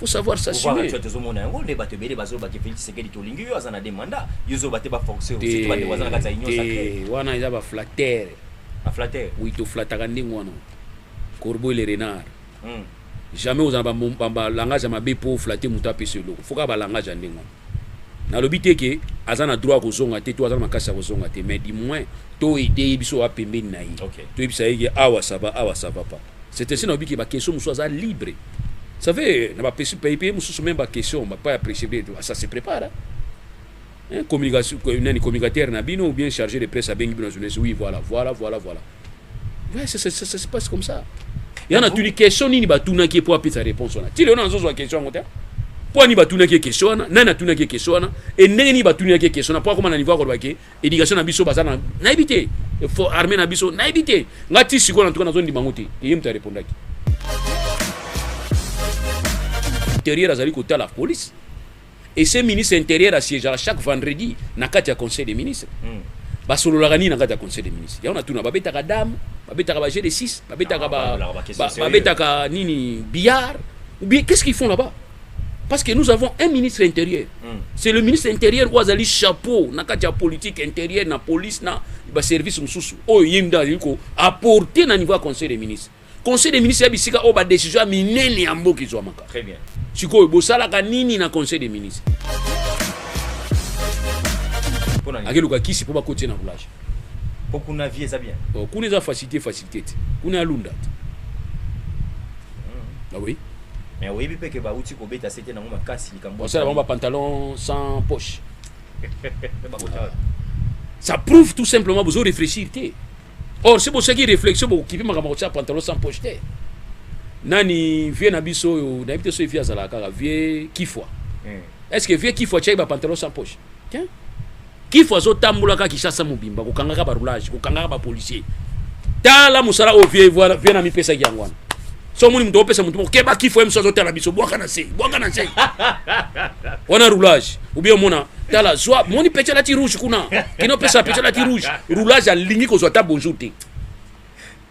faut savoir s'assumer tu tozo mona yango nde bato ebele bazo ba ke Felix Tshisekedi tolingi yo aza na deux mandats yo zo bate ba forcer surtout bande waza na kati ya union sacrée wana eza ba flatteur ba flatteur oui to flataka ndenge wana corbeau et le renard hmm. jamais ozala ba ba, ba langage ma be pour flatter muta a pese eloko faut ka ba langage ya ndenge wana nalobi te ke aza na droit kozonga te to aza na makasi ya kozonga te mais du moins to aide ye biso wa pembeni na ye okay. toyebisa ye ke awa sava awa sava pa C'est ainsi nalobi ke ba question mosusu aza libre savez na ba pesi pays pays mosusu même ba question ba pa ya presse bien ah, ça se prépare hein? communication nani communicateur na bino ou bien chargé de presse abengi bino journaliste oui voilà voilà voilà voilà ouais, ça, ça, ça, ça se passe comme ça ya na tuni question nini batunaki ye mpo apesa réponse wana ti lelo na nzozwa question yango te mpo ani batunaki ye question wana nani atunaki ye question wana e ndenge nini batunaki ye question wana mpo akoma na niveau akoloba ke éducation na biso baza na nayebi te fo armée na biso nayebi te nga ti sikoyo na tuka nazondima yango te eye moto arepondaki intérieur azali kotala police et ce ministre intérieur asiégeaka chaque vendredi na kati ya conseil des ministres mm. basololaka nini na kati ya conseil des ministres yango natuna babetaka dame babetaka ba g de 6 babetaka babetaka nini billard ou bien qu'est ce qu'ils font là-bas parce que nous avons un ministre intérieur mm. c'est le ministre intérieur oyo azali chapeau na kati ya politique intérieure na police na baservice mosusu oyo ye nde azali koapporte na niveau ya conseil des ministres conseil des ministres ya bisika oyo badécision ya minene ya mboka ezwamaka sikoyo bosalaka nini na conseil des ministres akeluka kisi mpo bakotie na roulage po kuna vie eza bien oh, kuna eza facilité facilité te kuna ya lunda te Ah oui. Mais oyebi pe ke bauti kobeta sete nango makasi likambo. Osala bango ba pantalon sans poche. Ça prouve tout simplement bozo réfléchir te. Or si bosaki réflexion bokokipe makambo kotia pantalon sans poche te. Nani vieux na biso oyo nayebi te soki vieux azalaka kaka vieux kifwa. Hmm. Est-ce que vieux kifwa tiaki ba pantalon sans poche? Tiens. Kifu azotambolaka Kinshasa mobimba kokangaka ba roulage, kokangaka ba policiers. Tala musala oyo vie voilà vie na mipesa yango wana. So moni mutu opesa mutu keba kifu emso azotala biso bwaka na se, bwaka na se. Wana roulage. Ou bien mona tala zwa moni pecha lati rouge kuna. Kino pesa pecha lati rouge. Roulage alingi kozwa ta bonjour te.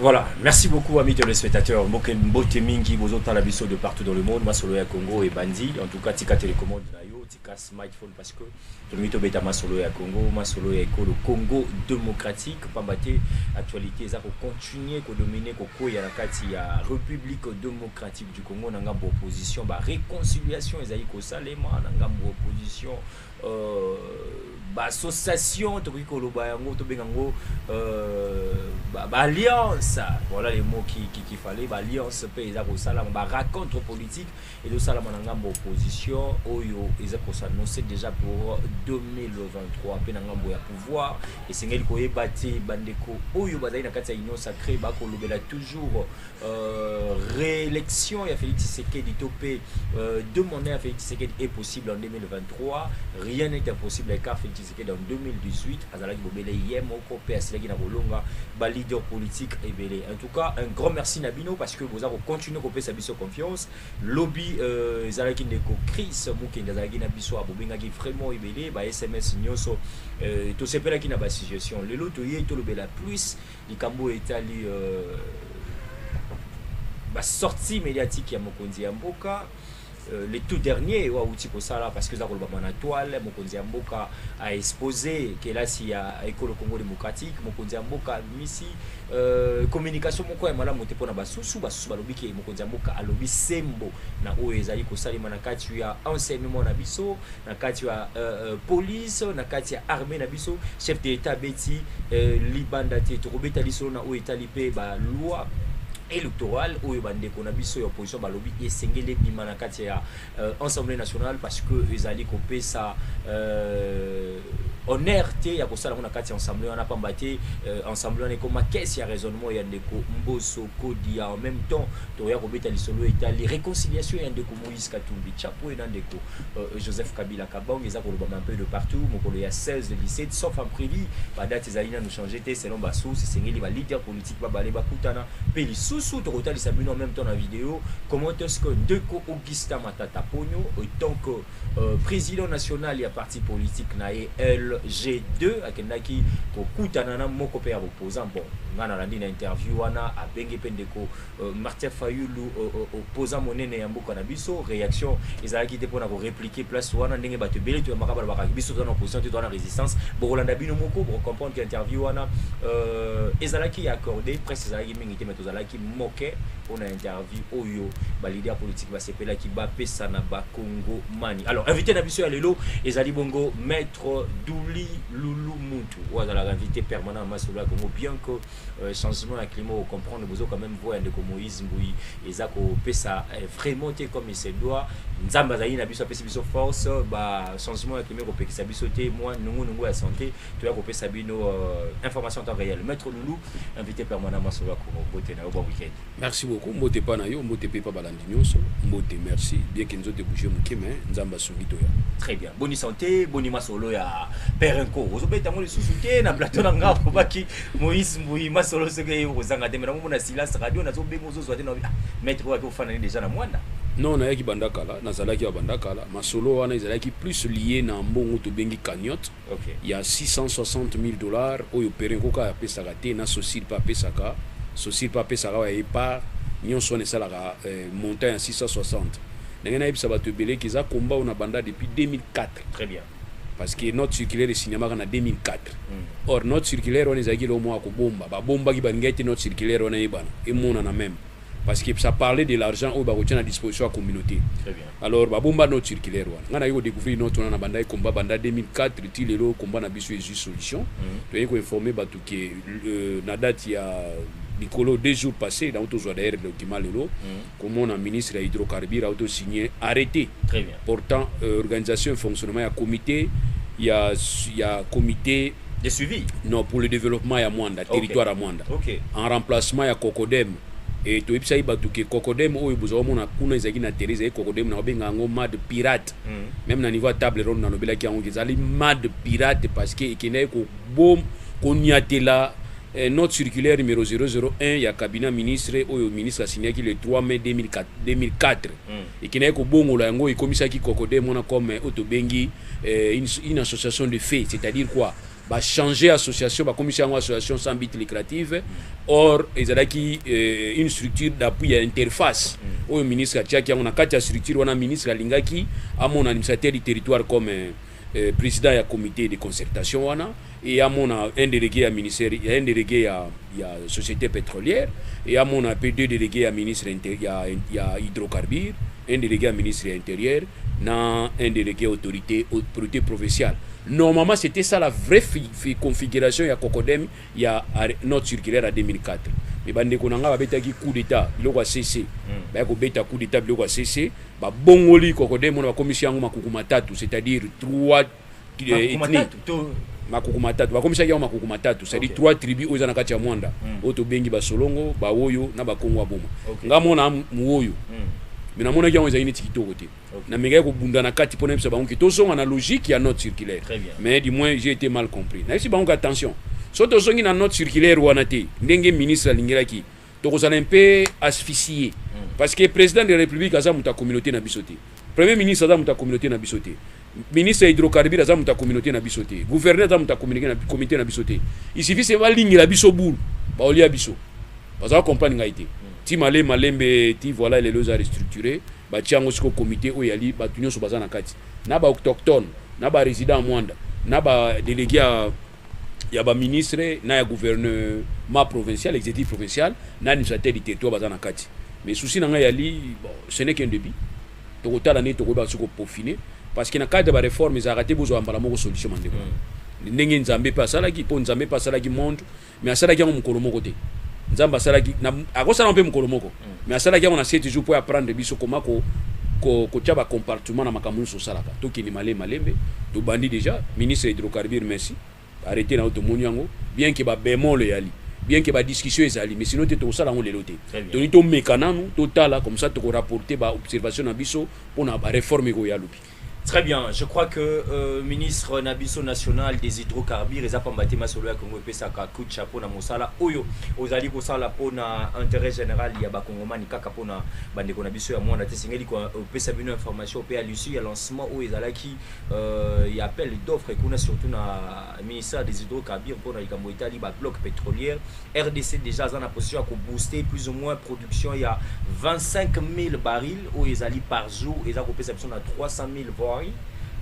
Voilà, merci beaucoup amis téléspectateurs. Mboke mbote mingi bozo tala biso de partout dans le monde, masolo ya Congo et bandi. En tout cas, tika télécommande na yo, tika smartphone parce que to mito beta masolo ya Congo, masolo ya ekolo Congo démocratique pambate actualité eza ko continuer ko dominer ko koya na kati ya République démocratique du Congo na ngambo opposition ba réconciliation ezali ko salema na ngambo opposition bassociation tokoki koloba yango tobenga yango baalliance voilà le mot qui, qui, qui fallait baalliance mpe eza kosalama baracontre politique ezosalama na ngambo opposition oyo eza kosanose déjà pour 2023 mpe na ngambo ya pouvoir esengeli koyeba te bandeko oyo bazali na kati ya union sacré bakolobela toujours Euh, réélection ya Félix Tshisekedi to pe euh, deux mandats ya Félix Tshisekedi est possible en 2023 rien n'est impossible avec Félix Tshisekedi en 2018 azalaki bobele ye moko pe asilaki na kolonga ba leader politique ebele en tout cas un grand merci na bino parce que boza ko continuer kopesa biso confiance lobby euh, ezalaki ndeko Chris Mukenge azalaki na biso abobengaki vraiment ebele ba SMS nyonso euh, tosepelaki na ba suggestion lelo toye tolobela plus Likambo oyo etali ba sortie mediatique ya mokonzi ya mboka Euh, le tout dernier oyo awuti kosala parce que eza kolobama na toile mokonzi ya mboka aexpose kelasi ya ekolo congo démocratique mokonzi ya mboka abimisi euh, communication moko ya malamu te mpo na basusu basusu balobi ke mokonzi ya mboka alobi sembo na oyo ezali kosalema na kati ya enseignement na biso na kati ya euh, euh, police na kati ya armée na biso chef de l'etat abeti euh, libanda te tokobeta lisolo na oyo etali mpe baloi électorale oyo bandeko na biso ya opposition balobi esengeli ebima na kati ya euh, assemblée nationale parce que ezali kopesa euh, honneur te ya kosala yango na kati ya ensemble wana pamba te euh, ensemble wana ekoma kese ya raisonnement ya ndeko mboso kodi ya en même temps toya kobeta lisolo etali réconciliation ya ndeko Moïse Katumbi Chapwe na ndeko euh, Joseph Kabila Kabong eza kolobama un peu de partout mokolo ya 16 le 17 sauf en privi ba date ezali nanu changer te selon ba sources esengeli ba leader politique babale bakutana mpe lisusu tokotalisa bino en même temps na video comment est-ce que ndeko Augustin Matata Ponyo tant que euh, président national ya parti politique na ye LG2 akendaki kokutana na moko mpe ya opposant bon nga nalandi na interview wana abenge mpe ndeko Euh, Martin Fayulu euh, euh, opposant monene ya mboka na biso réaction ezalaki te mpona korepliquer place wana ndenge bato ebele toyambaka balobakaki biso toza na opposition te toza na résistance bokolanda bino moko bokocomprendre ke interview wana ezalaki ya accordé presse ezalaki mingi te mai tozalaki moke mpona interview oyo baleader politique basepelaki bapesa na bakongo mani alors invité na biso ya lelo ezali bongo maître douli lulu muntu oyo azalaka invité permanent ya masolo ya congo bien que euh, changement ya climat ocomprendre bozo quand même voix ya ndeko moïse mbuyi eza kopesa euh, vraiment te comme il se doit nzambe azali na biso apesi biso force ba changement ya climat ekopekisa biso te mwa nungunungu ya santé toya kopesa bino euh, information en temps réel maître loulou invité permanent masolo ya kongo bote na yo bwa week-end Merci beaucoup mbote epa na yo mbote mpe epa balandi nyonso mbote merci bien ke nzoto ebouge moke me nzambe asungi toya très bien boni sante boni masolo ya pere nko ozobeta yango lisusu te na plateau na ngai akobaki moïse mbui masolo soki eye okozanga te me nakomona silas radio nazobenga ozozwa te na ah, maître oyo akofanani deja na mwana non nayaki banda kala nazalaki ya banda kala masolo wana ezalaki plus lie na mbongo tobengi cagnotte ya 660.000 dollars oyo Perrin Koka apesaka te na Socil mpe apesaka, Socil mpe apesaka awa ya ye part, nionso wana esalaka montant ya 660. Ndenge nayebisa batu ebele que eza combat oyo nabanda depuis 2004. Très bien. Parce que note circulaire esignamaka na 2004. Or note circulaire wana ezalaki eloko moko ya kobomba, babombaki, balingaki te note circulaire wana eyebana, emonana meme. parce que ça parlait de l'argent oyo bakotia na disposition ya communauté alors babomba note circulaire wana ngai naye kodécouvrir note wana na bandaki combat banda 2004 ti lelo combat na biso ezwi solution mm. toyei koinforme bato ke euh, na date ya likolo deux jours passé nango tozwa d'ailleurs document lelo mm. komona ministre ya hydrocarbure auto signe arrêté portant euh, organisation et fonctionnement ya comité ya, ya comité J'ai suivi. Non, pour le développement ya Mwanda, okay. territoire ya Mwanda. Okay. En remplacement ya Cocodem. Et tu as dit que Cocodem, oyo vous avez mona kuna ezaki na terre, ezaki Cocodem na obenga ngo mad pirate. Mm. Même na niveau ya table ronde na lobela ki yango ezali mad pirate parce que ekendaki ko bom ko nyatela eh, note circulaire numéro 001 ya cabinet ministre oyo ministre asignaki le 3 mai 2004. 2004. Mm. ekendaki kobongola yango ekomisaki cocode mona comme oyo tobengi eh, une, une association de fait c'est-à-dire quoi bachanger association bakomisi yango association sans but lucrative or ezalaki eh, une structure d'appui ya interface mm. oyo ministre atiaki yango na kati ya structure wana ministre alingaki amona administrateur du territoire comme eh, eh, president ya comité de concertation wana et amona un délégué ya ministère un délégué ya, ya société pétrolière et amona pe deux délégués ya ministre ya, ya hydrocarbure un délégué ya ministre ya intérieur na un délégué autorité autorité provinciale normalement c'était ça la vraie configuration ya cocodem ya note circulaire ya 2004 mais bandeko na ngai babetaki coup d'etat biloko ya cc hmm. baye kobeta coup d'etat biloko ya cc babongoli kokode mona bakomisi yango makuku matatu c'est-à-dire trois eh, ethnie makuku matatu bakomisaki yango makuku matatu c'est-à-dire trois tribus oyo eza na kati ya mwanda hmm. oyo tobengi basolongo baoyo na bakongo ya boma ngai mona mowoyo hmm. mais namonaki yango ezali neti kitoko te Okay. namekaki kobunda na kati mpo nayebisa bango ke tozonga na logique ya note circulaire mais du moins j'ai été mal compris nayebisi bango ke attention so tozongi na note circulaire wana te ndenge ministre alingelaki tokozala un peu asphyxié hmm. parce que président de la république aza moto ya communauté na biso te premier ministre aza moto ya communauté na biso te ministre ya hydrocarbure aza moto ya communauté na biso te gouverneur aza moto ya communauté na biso te il suffit se balingela biso boule baolia biso baza comprendre ngai te hmm. ti male malembe ti voilà lelo eza restructuré Batia yango siko comite oyo yali batu nyonso baza na kati na ba autochtones na ba resident ya Mwanda na ba delege ya ya ba ministre na ya gouvernement provincial executif provincial na administrateur du territoire baza na kati mais souci na ngai yali bon, ce n'est qu'un début tokotala ndenge tokoyeba soki kopofine parce que na cadre ya bareforme ezalaka te bozwa mbala moko solution mandeko mm. ndenge nzambe mpe asalaki mpo nzambe mpe asalaki monde mais asalaki yango mokolo moko te nzambe asalaki akosala yango mpe mokolo moko mm. mais asalaki yango na se toujours mpo apprendre biso koma ko kotya bacompartiment na makambo nyonso osalaka tokende malembe malembe tobandi déjà ministre ya hydrocarbure merci arrete na yo tomoni yango bien ke babemol eyali bien ke badiscussion ezali mais sino te tokosala yango lelo te toni tomeka nanu totala comme ça tokorapporte baobservation na biso mpo na bareforme ekoya lobi Très bien, je crois que euh, ministre Nabiso national des hydrocarbures eza pamba te masolo ya Congo epesaka coup de chapeau na mosala oyo ozali kosala mpo na intérêt général ya bakongomani kaka mpo na bandeko na biso ya mwana te esengeli kopesa bino information mpe ya lusu ya lancement oyo ezalaki euh, ya appel d'offre kuna surtout na ministère des hydrocarbures mpo na likambo etali ba blocs petrolière rdc dejà aza na position ya kobooster plus ou moins production ya 25000 baril oyo ezali par jour eza kopesa biso na 300000 voiri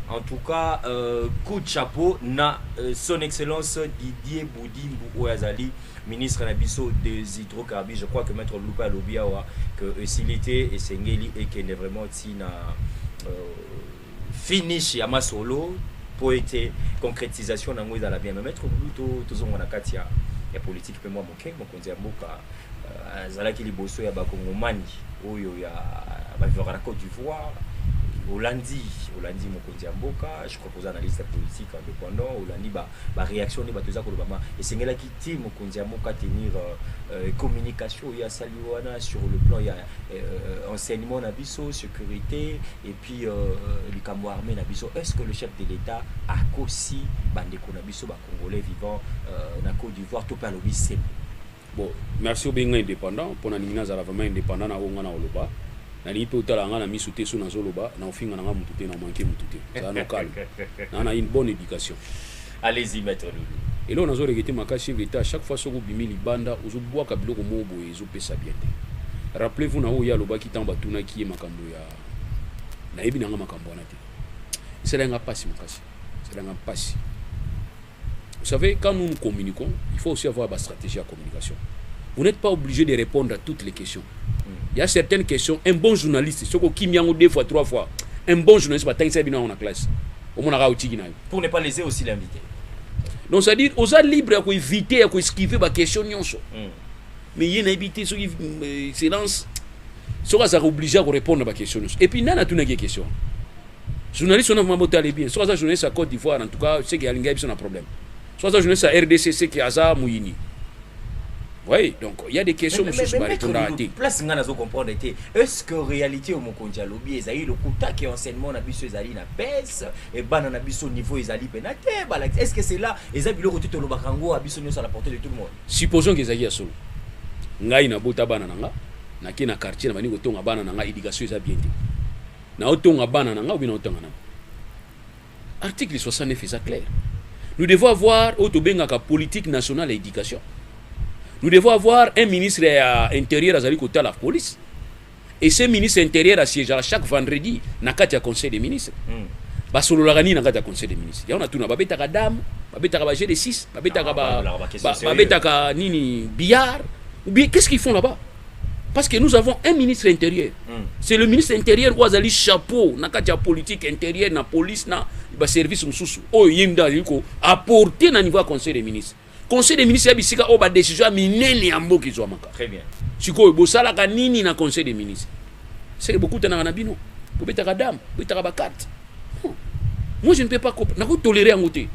en tout cas euh, coup de chapeau na euh, son excellence didier boudimbu oyo azali ministre na biso des hydrocarbures je crois que maître lupa alobi awa que esili te esengeli ekende vraiment ntina euh, finish ya masolo mpo ete concretisation na yango ezala bien mais maître buluto tozonga na kati ya ya politiki mpe mwa moke mokonzi ya mboka euh, azalaki liboso ya bakongomani oyo ya bavivaka na cote d'ivoire olandi olandi mokonzi ya mboka je crois koza analyste ya politique indépendant olandi baréaction ba nde bato eza kolobama esengelaki te mokonzi ya mboka tenir euh, communication oyo asali wana sur le plan ya euh, enseignement na biso sécurité et Puis euh, likambo armée na biso est-ce que le chef de l'État akosi bandeko na biso ba congolais vivant euh, na Côte d'Ivoire to pe alobi sembo bon merci obenga indépendant mpo nalingi nazala vraiment indépendant na oyo ngai nakoloba nalingi mpe otala ngai na miso te so nazoloba na ofinga na ngai motu te na manke motu te zala na calme na na une bonne éducation allez-y maître lulu eloko nazoleke te makasi chef d'état chaque fois soki obimi libanda ozobwaka biloko moko boye ezopesa bien te rappelez-vous na oyo ye alobaki ntango batunaki ye makambo ya nayebi nanga makambo wana te esala nga mpasi makasi esala nga mpasi vous savez quand nous nous communiquons il faut aussi avoir ba stratégie ya communication vous n'êtes pas obligé de répondre à toutes les questions mm. il y a certaines questions un bon journaliste soki okimi yango deux fois trois fois un bon journaliste batangisa bino yango na classe omonaka otiki na yo pour ne pas laisser aussi l'invité donc c'est à dire oza libre ya koevite ya koesquive baquestion nyonso mm. mais ye nayebi te soki euh, excellence soki azalaka oblige ya korépondre baquestion nyonso epuis nani atunaki ye question journaliste wana vraimen botale bien soki aza journaliste ya côte d'ivoire en tout cas seke alingi ayebiso na problème soki aza journaliste ya rdc seke aza moyini Oui, donc il y a des questions mais, mais, mais, mais, mais, place nga nazo comprendre te est-ce que réalité au mokonzi alobi ezali lokuta ke enseignement na biso ezali na baisse et bana na biso niveau ezali pena te est-ce que c'est là eza biloko tout olobaka ngo a biso nyoso à la portée de tout le monde Supposons que ezalaki ya solo. Ngai na bota bana na nga, na ke na quartier na bani ko tonga bana na nga éducation eza bien te. Na otonga bana na nga ou bien na otanga na. Article 69 eza clair. Nous devons avoir oyo tobengaka politique nationale ya éducation. Nous devons avoir un ministre ya intérieur azali kotala police. et ce ministre intérieur asiégea chaque vendredi na kati ya conseil des ministres mm. basololaka nini na kati ya conseil des ministres yango natuna babetaka dame babetaka ba jeu de 6 babetaka ah, babetaka nini billard ou bien qu'est-ce qu'ils font là-bas parce que nous avons un ministre intérieur mm. c'est le ministre intérieur oyo azali chapeau na kati ya politique intérieure na police na baservice mosusu oyo ye nde azali koapporte na niveau ya conseil des ministres conseil des ministres ya bisika oyo badecision ya minene ya mboka ezwamaka sikoyo bosalaka nini na conseil des ministres seke bokutanaka na bino bobetaka dame bobetaka bakarte hmm. moi je ne peux pas nakotolere yango te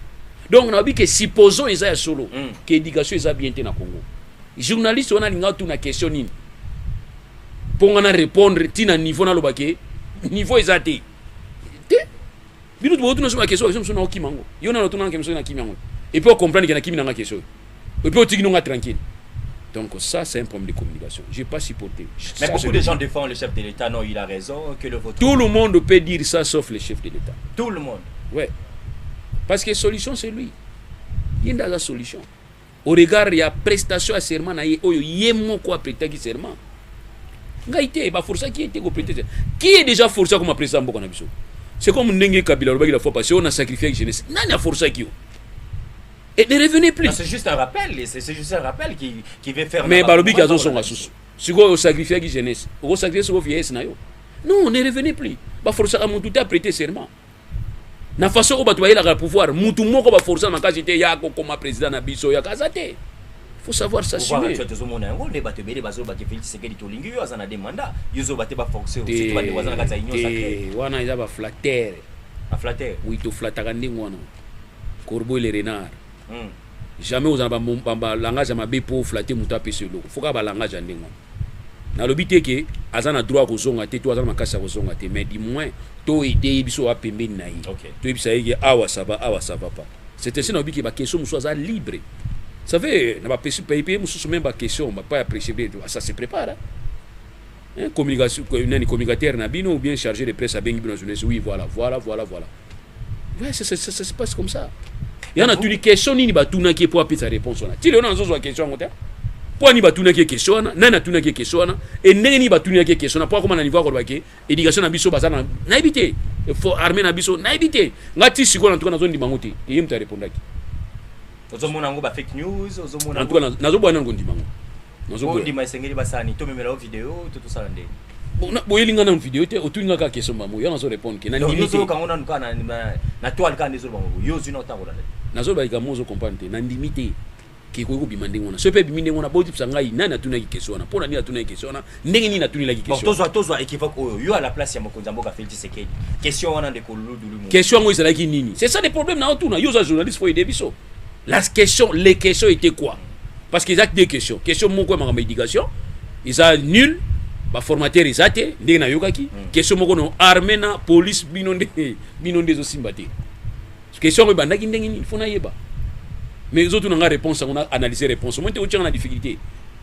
donc nayebi ke supposons eza ya solo hmm. ke éducation eza bien te na congo journaliste wana alinga tuna question nini mpo nga na répondre ntina niveau naloba ke niveau eza te bino tu botuna soki bakesio bakesio mosusu na okima yango yo nano otunanake mosuki na kimi yango epuis ocomprendre ke na kimi nanga kesio epuis otiki nonga tranquille Donc ça, c'est un problème de communication. Je n'ai pas supporté. Mais ça, beaucoup de gens défendent le chef de l'État. Non, il a raison. Que le vote... Tout le monde peut dire ça, sauf le chef de l'État. Tout le monde. Ouais. Parce que solution, c'est lui. Il y a la solution. au regard ya prestation ya serment na ye oyo ye moko apretaki serment ngai te baforsaki ye te koprete serment qui est déjà forcé akoma president ya mboka na biso c'est comme ndenge kabila alobaki la fois passé oyo na sacrifiaki jeunesse nani aforsaki yo et ne revenez plus c'est juste un rappel c'est juste un rappel qui, qui veut faire mais balobi ki azozonga susu sikoyo osacrifiaki jeunesse okosacrifie sikoyo vieillesse na yo non ne revenez plus baforsaka motu te aprete serment na façon oyo bato bayelaka pouvoir mutu moko baforce na makasi te ya kokoma président na biso ya kaza te faut savoir s'assumer tozomona yango nde bato ebele bazoloba ke félix tshisekedi tolingi yo aza na de mandat yo ozoloba te baforce surtout bande waza na kati ya union sacré wana eza baflatere baflatere oui toflataka ndenge wana corbeau le renard Jamais okozala na ba ba langage ya mabe po o flatter mutu apesa yo eloko. Faut kaka ba langage ya ndenge wana. Nalobi te que aza na droit ya kozonga te to aza na makasi ya kozonga te mais du moins to aider ye biso oya pembeni na ye. Toyebisa ye que awa ça va awa ça va pas. C'est ainsi nalobi que ba questions mosusu aza libre. Vous savez na ba pays mosusu meme ba questions epai ya presse ebele ça se prepare hein. Hein, communication, nani communicateur na bino ou bien chargé de presse abengi bino journaliste. Oui, voilà, voilà, voilà, voilà. Ouais, ça, ça, ça, ça se passe comme ça. Ya na tuni question nini batunaki po apesa réponse wana. Tilo na nzo zwa question yango te. Po ani batunaki question wana, nani atunaki question wana, et ndenge nini batunaki question wana po akoma na niveau akoloba ke éducation na biso baza na na ebite. Faut armée na biso na ebite. Ngati sikola ntuka nazo ndima ngote. Yeye mtu arepondaki. ozomona yango ba fake news ozomona en tout cas nazobwana na kondima yango nazobondima esengeli basani tomemela yo video to tosala nde boyeli ngai nanu video te otuni ngai kaka question bango yo nazo répondre ke nanimiteyoka yango nanu kaka na toile kaka nde ezoloba bango yo ozwi na otangola te nazoloba likambo ozo comprendre te nandimi te kekoki kobima ndenge wana soki mpe ebimi ndenge wana botipisa ngai nani atunaki question wana mpo na nini atunaki question wana ndenge nini natuni laki question tozwa tozwa équivoque oyo yo à la place ya mokonzi ya mboka Félix Tshisekedi question wana ndeko Ludulu question yango ezalaki nini c'est ça le problème na otuna yo oza journaliste faut aider biso la question les questions étaient quoi parce que eza deux questions question moko ya makambo éducation eza nul baformateur eza te ndenge nayokaki hmm. question moko no armée na police bino nde bino nde ezosimba te question yango ebandaki ndenge nini fo nayeba mais ezotuna nga réponse yango na analyse réponse omoi te otyanga na difficulté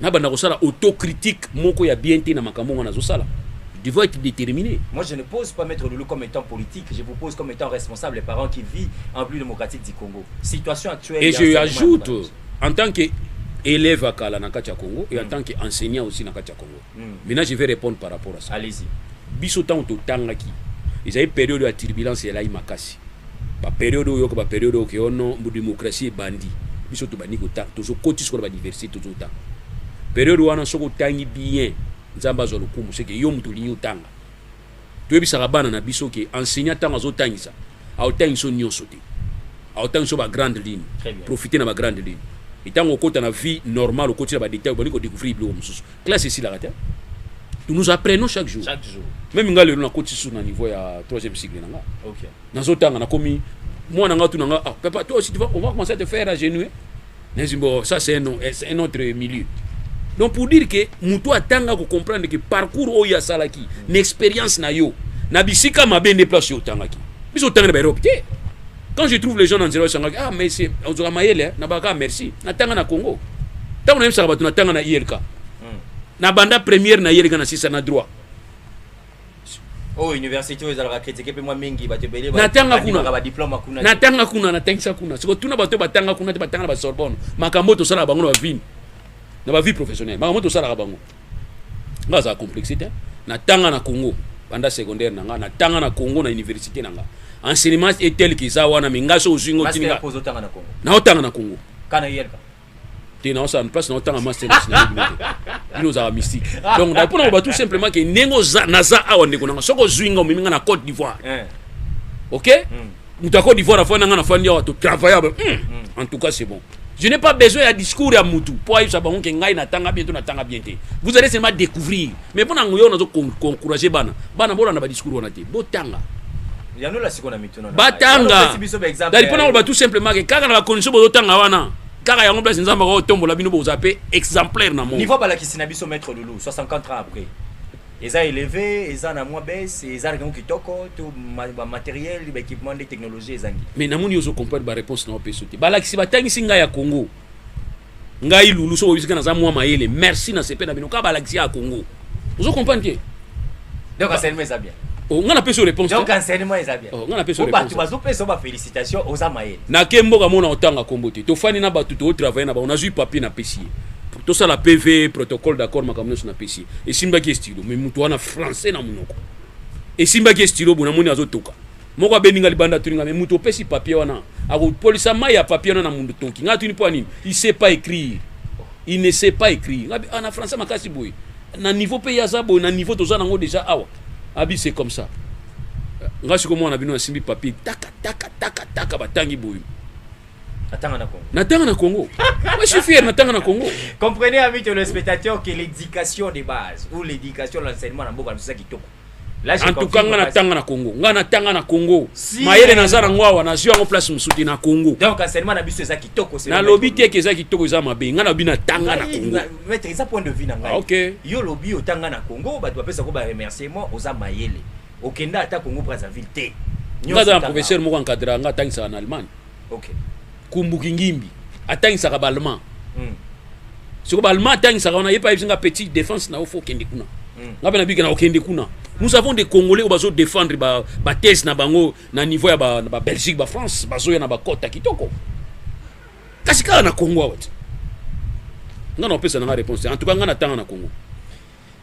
nabanda kosala autocritique moko ya bien te na makambo yango nazosala devons être déterminé. Moi, je ne pose pas Maître Loulou comme étant politique, je vous pose comme étant responsable et parent qui vit en République démocratique du Congo. Situation actuelle. Et je ajoute, en tant qu'élève à Kala Nakacha Congo et en mm. tant qu'enseignant aussi Nakacha Congo, mm. maintenant je vais répondre par rapport à ça allez-y biso ntango totangaki ezali periode ya turbulence elai makasi baperiode oyo yoka baperiode oyo ke ono oh démocratie ebandi biso tobandi kotanga tozokoti sikoyo na badiversité tozotanga periode wana soki otangi bien nzambe azwa lokumu seke yo moto olingi otanga toyebisaka bana na biso ke enseignant ntango azotangisa aotangisa yo nyonso te aotangisa yo ba grande ligne profite na ba grande ligne ntango okota na vie normale okoti na badetail obandi kodécouvrir biloko mosusu classe esilaka te nous nous apprenons chaque jour chaque jour même nga lelo nakoti susu na niveau ya 3e cycle na nga okay. nazotanga nakomi mwana nga tu na nga ah, papa toi aussi tu vas, on va commencer à te faire agenouer Nezi bo ça c'est un, c'est un autre milieu. Donc pour dire que mutu atanga ko comprendre que parcours oyo asalaki, na expérience na yo, na bisika mabe nde place yo otangaki. Biso otangaki ba Europe te. Quand je trouve les gens dans zero sangaki, ah mais c'est on zora mayele, na baka merci. Na tanga na Congo. Tango na yebisaka bato na tanga na ILK. Hmm. Na banda première na ILK na sisa na droit. oyo université oyo ezalaka critique mpe mwa mingi bato ebele natanga kuna badiploma kuna natanga kuna natangisa kuna siko tuna bato batanga kuna te batanga na basorbonne makambo oyo tosalaka bango na bavine na bavie professionnelle makambo oyo tosalaka bango nga azala complexe te natanga na congo banda secondaire na nga natanga na congo na université na nga enseignement etel kiza wana me nga so ozwi ngo tini naotanga na congo te naosala place naotanga masterclass na bino te bino ozalaka mystique donc na mpona koba tout simplement ke ndenge oza naza awa ndeko nanga soki ozwi nga omemi nga na cote d'ivoire eh. ok hmm. moto ya cote d'ivoire afandi na nga nafandi awa totravaille hmm. hmm. en tout cas c'est bon je n'ai pas besoin ya discours ya mutu mpo ayebisa bango ke ngai natanga bien to natanga bien te vous allez seulement découvrir mais mpo na ngoyo nazo encourager bana bana bolanda badiscours wana te botanga yanola sikoyo na batanga dali mpona koloba tout simplement ke kaka na bacondition bozotanga wana kaka yango place nzambe akotombola bino boza mpe exemplaire na niveau balakisi na biso maître lulu 64 ans après eza élevé eza na mwa baisse eza na kango kitoko to bamateriel baéquipement nde technologie ezangi mais namoni ozo comprendre baréponse na opeso te balakisi batangisi ngai ya congo ngai lulu soki oyebisi ngai naza mwa mayele merci na sepe na bino kaka balakisi ya congo ozo comprendre te donc enseignement eza bien Oh, nga napesi yo réponse donc enseignement eza bien oh, nga napesi yo bato bazopesa yo bafélicitation oza mayele nake mboka mona otanga nkombo te tofandi na bato tootravaille na bango nazwi papier napesi ye tosala pv protocole d'accord makambo nyonso napesi ye esimbaki estilo mais moto wana français na monoko esimbaki estilo bo namoni azotoka moko abendi nga libanda atuni nga me moto opesi papier wana akopolisa mai ya papier wana na mundu tonki nga atuni mpo ya nini il sait pas écrire il ne sait pas écrire nga ah, na français makasi boye na niveau mpe ye aza boye na niveau toza nango déjà awa abi c'est comme ça nga siko mwana bino asimbi papier taka taka taka taka batangi boye Natanga na Congo. Natanga na Congo. Moi, je suis fier, Natanga na Congo. Comprenez, amis téléspectateurs, que l'éducation de base ou l'éducation, l'enseignement, na boka, c'est ça qui toque. en tout cas nga na tanga na Congo nga na tanga na Congo si, mayele naza na ngwawa nazwi yango place mosusu te na Congo donc enseignement na biso eza kitoko na lobi te ke eza kitoko eza mabe nga na lobi na tanga na Congo maître eza point de vue na ngai ah, okay. yo lobi otanga na Congo bato bapesa ko ba remerciement oza mayele okenda ata Congo Brazzaville te nga za na professeur moko encadra nga atangisaka na Allemagne okay. kumbu kingimbi atangisaka ballemand mm. soko ballemand atangisaka wana ye mpe ayebisi nga petit défense na yo fo okende kuna mm. nga mpe nabiki na okende kuna nous avons des congolais oyo bazo défendre bathèse ba na bango na niveau ya ba, ba belgique ba france bazoya na bakota kitoko kasi kaka na congo awa te nga na opesa na nga réponse te en tout cas nga na tanga na congo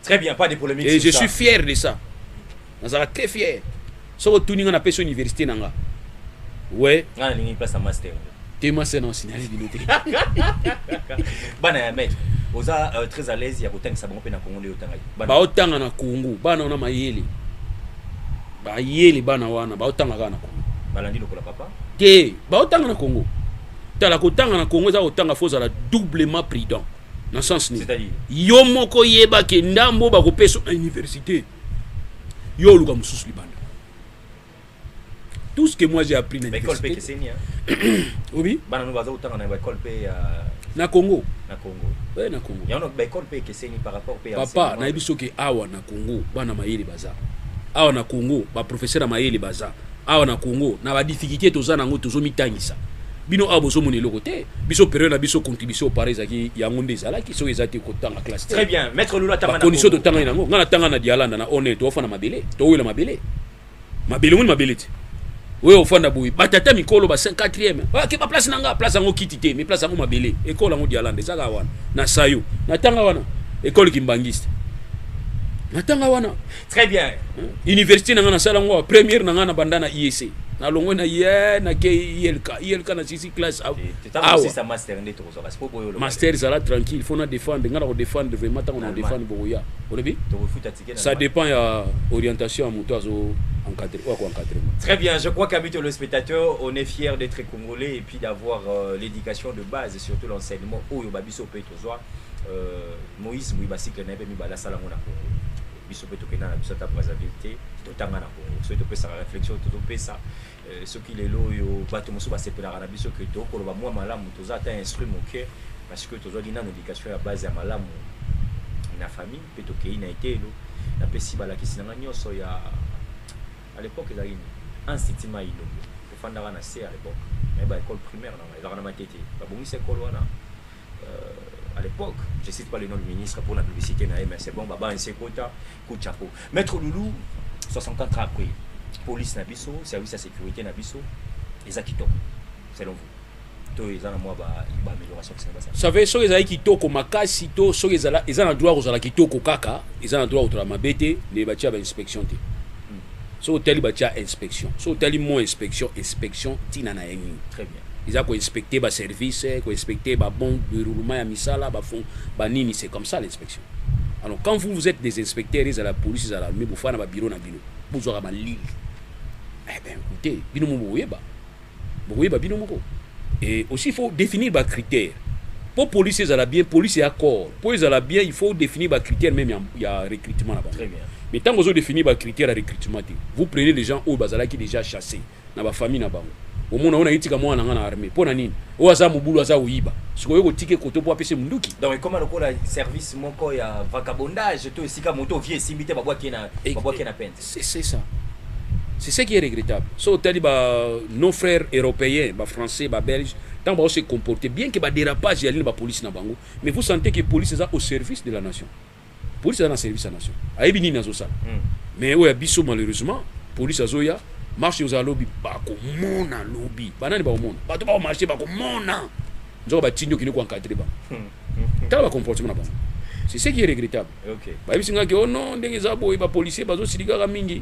Très bien, pas de polemique. Et je ça. suis fier de ça. Nazala très fier. Sauf que tout le monde a pêché l'université. Ouais. On a une place à master. T'es ma scène en signal d'unité. Bana ya maître. Oza euh, très à l'aise ya kotangisa bango pe na Congo nde otanga. Ba otanga na Congo, bana ona mayele. Ba yele bana wana, ba otanga kaka na Congo. Balandi lokola papa. Te, ba otanga na Congo. Tala kotanga na Congo eza kotanga faut ozala doublement prudent. na sens nini yo moko yeba ke ndambo bakopesa na université yo oluka mosusu libanda tout ce que moi j'ai appris na université obi bana no baza kotanga na baekole mpe ya na congo na congo ouais, na congo yango baekole mpe ekeseni par rapport mpe papa nayebi soki awa na congo bana mayele baza awa na congo baprofesseur ya mayele baza awa na congo na ba difficulté toza nango tozomitangisa bino awa bozomona eloko te biso periode na biso contribution opara ezalaki yango nde ezalaki soki eza te kotanga classe très bien maître lula tanga condition totangani nango ngai natanga na dialanda na one toofana mabele towela mabele mabele omoni mabele te oyo ofanda boye batata mikolo ba 4e ake ba place na nga place yango kiti te mais place yango mabele ekole yango dialanda ezaka wana na sayo natanga wana ekole kimbangiste natanga wana très bien université na nga na sala ngo première na nga na banda na IEC na longwe na ye na ke ILK ILK na sisi classe awa master nde toko zoka sipo boyo master zala tranquille faut na défendre nga na ko défendre vraiment tango na défendre bokoya olobi ça dépend ya orientation ya moto azo encadrer ou à encadrer très bien je crois qu'amis le spectateur on est fier d'être congolais et puis d'avoir euh, l'éducation de base et surtout l'enseignement oyo babiso peut Zwa euh, Moïse Mbuyi basikle na ye mpe mibale asala yango na Congo biso mpe tokenda na biso ata Brazzaville te totanga na Congo soki topesaka réflexion tozopesa euh, soki lelo oyo bato mosusu basepelaka na biso ke tokoloba mwa malamu toza ata instruit moke parce que tozwaki nano éducation ya base ya malamu na famille mpe tokei na eteyelo napesi balakisi na ngai nyonso ya à l'époque ezalaki nini institut mai ilombo tofandaka na se à l'époque naye ba école primaire na ngai ezalaka na matete babongisa ekole wana à l'époque, je cite pas le nom du ministre pour la publicité, mais c'est bon, Baba Nsekota, coup de chapeau. Maître Loulou, 64 ans après, police Nabiso, service à sécurité Nabiso, et Zakito, selon vous to eza na mwa baamélioration ba save soki ezalaki kitoko makasi to soki eza na droit kozala kitoko kaka eza na droit kozala mabe te nde batya bainspection te hmm. soki otali batya inspection soki otali mo inspection inspection ntina na ye nini eza ko inspecter ba services ko inspecter ba bon déroulement ya misala ba fond ba nini c'est comme ça l'inspection alors quand vous vous êtes des inspecteurs ils à la police ils à l'armée vous fana ba bureau na bino vous aura ba lili eh ben écoutez bino mo boyeba boyeba bino moko et aussi il faut définir ba critères pour police ils à la bien police et accord pour ils à la bien il faut définir ba critères même il y a recrutement là-bas très bien mais tant que vous définir ba critères à recrutement vous prenez les gens au bazala qui déjà chassés na ba famille na bango omona ona itika mwana nga na armée pona nini oyo aza mobulu aza oyiba sikoyo kotika koto po apese munduki donc ekoma lokola service moko ya vagabondage to esika moto vie esimbi te babwaki na babwaki na pente c'est c'est ça c'est ce qui est regrettable so otali ba nos frères européens ba français ba belges tant ba se comporter bien que ba dérapage ya lini ba police na bango mais vous sentez que police eza au service de la nation police aza na service ya nation ayebi nini azosala mm. mais oyo ya biso malheureusement police azoya marche ozala lobi bakomona lobi banani bakomona bato bakomarche bakomona nzoka batindi okende koencadre bango hmm. tala bacomportement na bango c'est ce qui est regrettable bayebisi ngaki o oh non ndenge eza boye bapolicier bazosilikaka mingi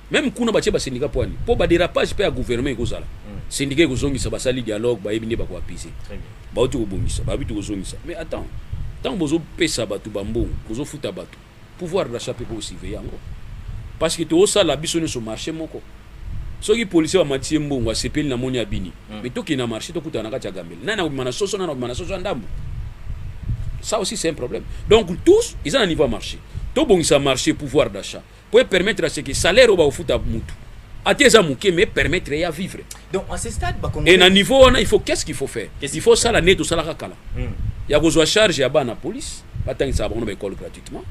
Meme kuna batie ba syndicat poani po ba derapage pe ya gouvernement ekozala syndicat ekozongisa basali dialogue bayebi nde bako apaiser bauti kobongisa bayebi tokozongisa mais attends ntango bozopesa bato bambongo bozofuta bato pouvoir d'achat pe po surveiller yango parce que toosala biso nyonso marché moko soki policier bamati ye mbongo asepeli na moni abini mm. mais tokende na marché tokutana na kati ya gambele nani akobima na soso nani akobima na soso ya ndambo ça aussi c'est un problème donc tous eza na niveau ya marché tobongisa marché pouvoir d'achat po e permettre ce que salaire oyo bakofuta mutu ata eza moke mais permettre ya vivre donc à ce stade ba et na niveau wana il faut qu'est-ce qu'il faut faire il faut sala nde tosalaka kala hmm. ya kozwa charge ya bana police batangisaka bango na baekole gratuitement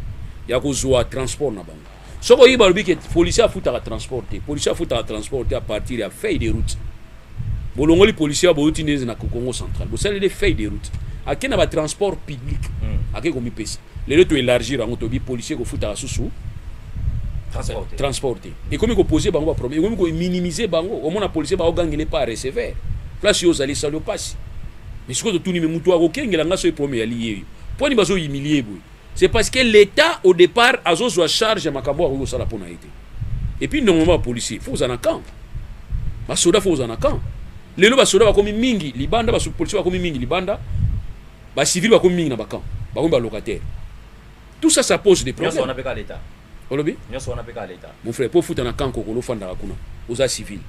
ya kozwa transport na bango soki oyebi balobi ke policier afutaka transport te policier afutaka transport te à partir ya feuille de route bolongoli policier ya bouti nde na Congo central bosali des feuilles de route ake na ba transport public mm. ake komipesa lelo to élargir yango tobi policier kofutaka susu transporté transporté mm. ekomi kopose bango ba problème ekomi kominimiser bango omona policier baogangele pa recevoir place yo ozali sali opasi mais sikoyo totuni me moto akokengela ngai soki problème eyali yeyo mpo ani bazoyimilie boye C'est parce que l'Etat au départ azozwa charge ya makambo akoki kosala mpo na ye te. Et puis normalement ba policiers faut kozala na camp. Ba soda faut kozala na camp. Lelo ba soda bakomi mingi libanda, ba policiers bakomi mingi libanda, ba civils bakomi mingi na ba camps, bakomi ba locataires. Tout ça ça pose des problèmes. olobi nyonso wana mpe kaka leta mon frère mpo ofuta na kanko kolo ofandaka kuna oza civil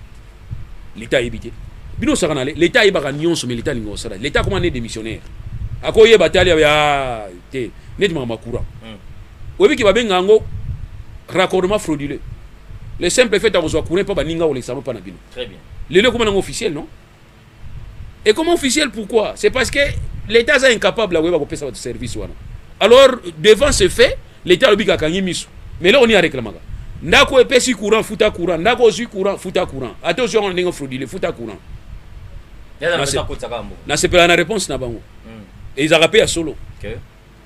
leta ayebi te bino osaka na leta ayebaka nyonso mais leta alinga osala leta akoma ne démissionnaire akoyeba te aliya ah, te neti makambo ya courant hmm. oyebi ke babenga yango raccordement frauduleux le simple fait akozwa courant mpo baninga kolekisa yango mpa na bino lelo ekoma nango officiel non ekoma officiel pourquoi c'est parce que l'état aza incapable ya koyeba kopesa bato service wana alors devant ce fait l'état alobi kakangi miso mais eloko nini areklamaka ndako epesi courant futa courant ndako ozwi courant futa courant ata ozwi yango na ndenge fraudile futa courant nasepela na réponse na bango hmm. ezalaka mpe ya solo okay.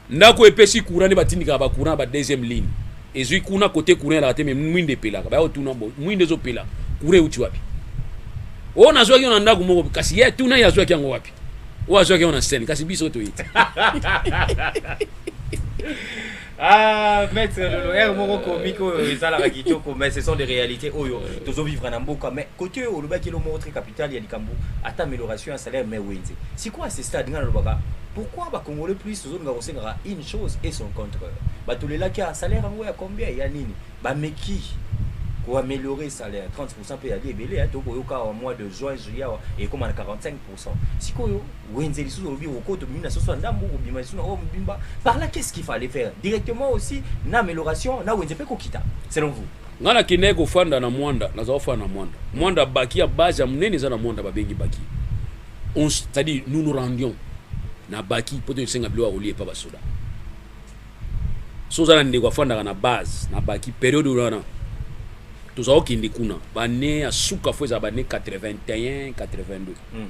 Ndako epesi courant nde batindikaka ba courant ba deuxième ligne. Ezui kuna kote courant elaka te mais mwinda epelaka. Baya kotuna bo mwinda ezopela courant euti wapi? Oyo nazwaki yo na ndako moko kasi ye tuna ye azwaki yango wapi? Oyo azwaki yango na scène kasi biso toyebi te. Ah, maître Lolo, er moko comique oyo ezalaka kitoko mais ce sont des réalités oyo tozo vivre na mboka mais côté oyo olobaki lo moko très capital ya likambo ata amélioration ya salaire mais wenze. Sikoyo à ce stade nga nalobaka Pourquoi ba congolais plus tozolinga kosengaka une chose et son contraire batolelaki ya salaire yango ya combien ya nini bameki ko améliorer salaire 30% mpe yali ebele ya tokoyoka awa mois de juin juillet awa ekoma na 45% sikoyo wenze lisusu olobi okoto bimi na soso ya ndambo kobima lisusu na oyo mobimba par là qu'est-ce qu'il fallait faire directement aussi na amélioration na wenze mpe kokita selon vous ngai nakendaki kofanda na mwanda nazala kofanda na mwanda mwanda baki ya base ya monene eza na mwanda babengi baki On, c'est-à-dire nous nous rendions na baki mpo te tosenga biloko ya kolia epa basoda so oza na ndeko afandaka na base na baki periode wana tozala okende kuna bane ya suka fo ezala bane 81 82 mm.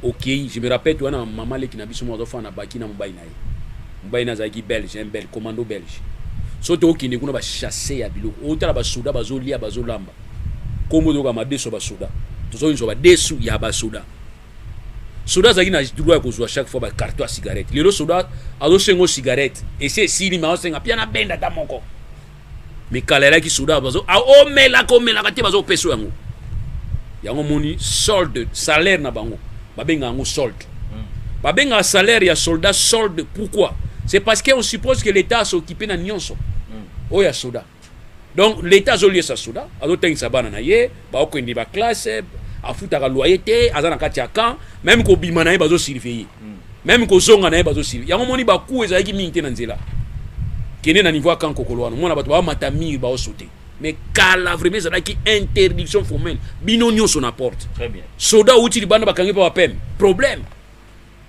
okei je me rappelle toya na mama leki na biso moko azofanda na baki na mobali na ye mobali na azalaki belge un belge commando belge soki tokokende kuna bachasse ya biloko otala basoda bazolia bazolamba nkombo toyoka madeso ya basoda tozozwa badesu ya basoda soda azalaki na droit ya kozwa chaque fois bacarton ya cigarette lelo soda azosenga o cigarette esi esili me aosenga mpe na benda ata moko mikala elaki soda bazo aomelaka omelaka te bazopesa yango yango moni solde salaire na bango babenga yango solde hmm. babenga salaire ya soldat solde pourquoi c'est parce qu'on suppose que l'état asokipe na nyonso hmm. oyo ya soda donc l'état azoliesa soda azotangisa bana na ye bakokende ba classe afutaka loyer te aza na kati ya camp meme kobima na ye bazo surveiller hmm. meme kozonga na ye bazo surveiller yango moni baku ezalaki mingi te na nzela kende na niveau ya camp kokolo wana omona bato bamata mire baosote mais kala vraiment ezalaki interdiction formelle bino nyonso na porte soda outi libanda bakangi mpe bapeme problème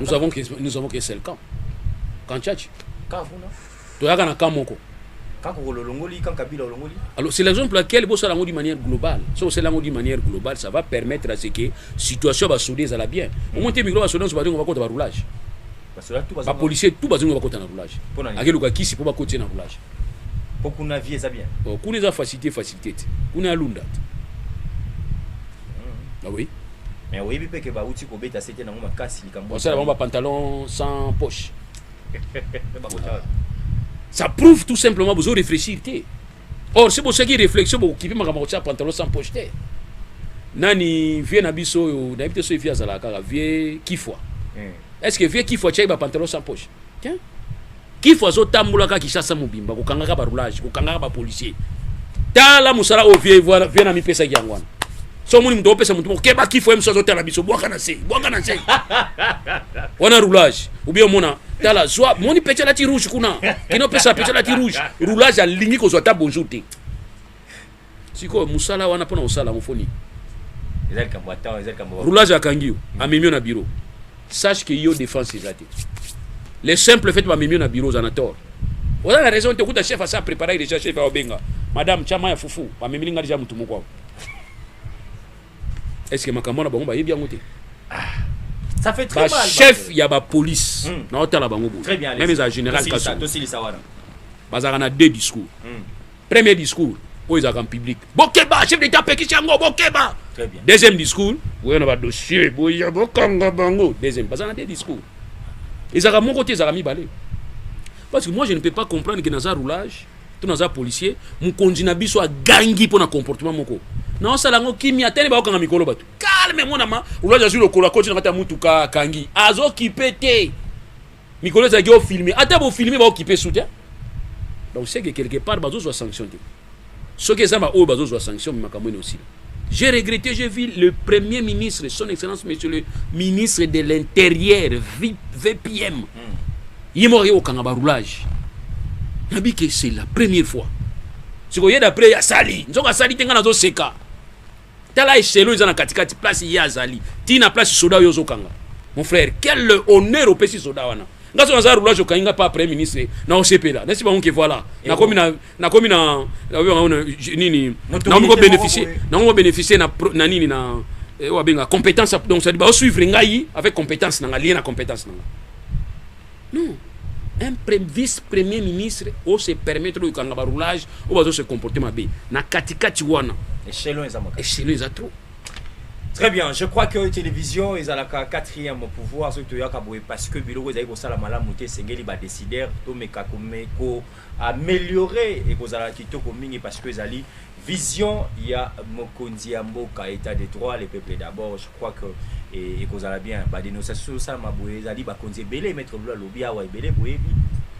nous avons que nous avons que seul camp camp tchatch camp kuna toyaka na camp moko camp kokolo olongoli camp kabila olongoli alors c'est la raison pour laquelle bosala yango d'une manière globale soki osala yango d'une manière globale ça va permettre à ce que situation ya basode ezala bien omoi te mikolo basode nyonso balingo bakota baroulage bapolicier tout bazingo bakota na roulage akeluka kisi mpo bakotie na roulage mpo kuna vie eza bien oh, kuna eza facilité facilité te kuna ya lunda te hmm. ah oui Mais oyebi pe que ba uti ko beta sete nango makasi likambo. Ba sala ba pantalon sans poche. Ça prouve tout simplement bozo réfléchir te. Or si bosaki réflexion bo kibi makambo ko pantalon sans poche te. Nani vieux na biso oyo na bito so vieux azala kaka vieux kifwa. Hmm. Est-ce que vieux kifwa chai ba pantalon sans poche? kifu azotambolaka kishasa mobimba kokangaka barulage kokangaka bapolicier tala mosala oyo vie viena mipesaki yango wana so omoni moto opesa motu moko keba kifu ye mosu azotala biso bwaka na se bwaka na se wana roulage obi omona tala zwa moni pecha lati rouge kuna kino opesa pecha lati rouge roulage alingi kozwa ata bonjour te sikoyo musala wana pona kosala yango foni roulage akangi yo mm. amemi yo na bureau sache que yo défense eza te le simple fait bamemi yo na bureau oza na tort oza na raison te okuta chef asa préparaki déjà chef aobenga madame chama ya fufu bamemeli nga déjà motu moko awa est ce que makambo wana bango bayebi yango te ah. ça fait très mal chef ya ba police hmm. na otala bango boye même eza général kaso bazalaka na deux discours hmm. Premier discours, oyo ezalaka en public. Bokeba, chef d'etat apekisi yango, bokeba. Très bien. Deuxième discours, oyo na ba dossier, boya bokanga bango. Deuxième, baza na deux discours. Ezalaka moko te, ezalaka mibale. Parce que moi je ne peux pas comprendre que naza roulage, to naza policier, mokonzi na biso agangi mpo na comportement moko. Na osala yango kimia tele bakokanga mikolo bato. Calme mwana ma, roulage azwi lokolo akoti na kati ya mutuka akangi. Azokipe te. mikolo ezalaki o filme ata bo filme ba okipe su te donc c'est que quelque part bazozwa sanction te soki eza baoyo bazozwa sanction makambo ene osila j'ai regretté j'ai vu le premier ministre son excellence monsieur le ministre de l'intérieur vpm hmm. ye moko aye kokanga baroulage nabi ke c'est la première fois sikoyo ye d'après asali nzoka asali te ngai nazoseka tala echelo eza na katikati place ye azali ti na place soda oyo ozokanga mon frère quel honneur opesi soda wana nga so naza roulage okangi nga pa premier ministre na osepela nasi bango ke voilà nakomi na nakomi na nini nakomi ko bénéficier nakomi ko bénéficier na na nini na eh, oyo abenga compétence donc ça dit ba suivre ngai avec compétence na nga lié na compétence na nga Non. Un vice-premier ministre o se permettre de kanga ba roulage o bazo se comporter mabe. Na kati kati wana. Echelon eza makasi. Echelon eza trop. Très bien, je crois que télévision est à la quatrième pouvoir, ce que tu as parce que Biloko est à la malamute, Sengeli va décider, Tomeka Komeko, ameliorer ekozala kitoko mingi parce que ezali vision ya mokonzi ya mboka etat de droit les peuples d'abord je crois que eh, ekozala bien ba dénonciation osalama boye ezali bakonzi ebele maître lula alobi awa ebele boyebi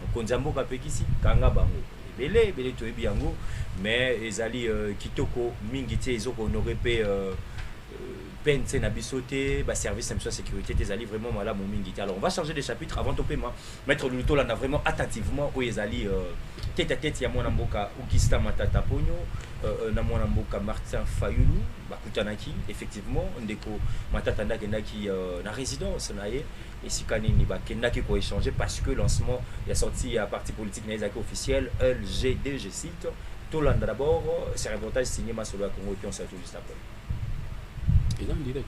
mokonzi ya mboka apekisi kanga bango ebele ebele toyebi yango mais ezali euh, kitoko mingi te ezoko honore mpe euh, PNC na biso te, ba service na biso ya sécurité te ezali vraiment malamu mingi te. Alors on va changer de chapitre avant topema Maitre Lulu tolanda vraiment attentivement oyo ezali euh, tete à tete ya mwana mboka Augustin Matata Ponyo euh, euh, na mwana mboka Martin Fayulu bakutanaki effectivement ndeko Matata nde akendaki euh, na résidence na ye esika nini bakendaki koéchange parce que lancement ya sortie ya parti politique na ye ezalaki officiel LGD je cite tolanda d'abord ce reportage signé masolo ya Congo Kion Sato juste après eza en direct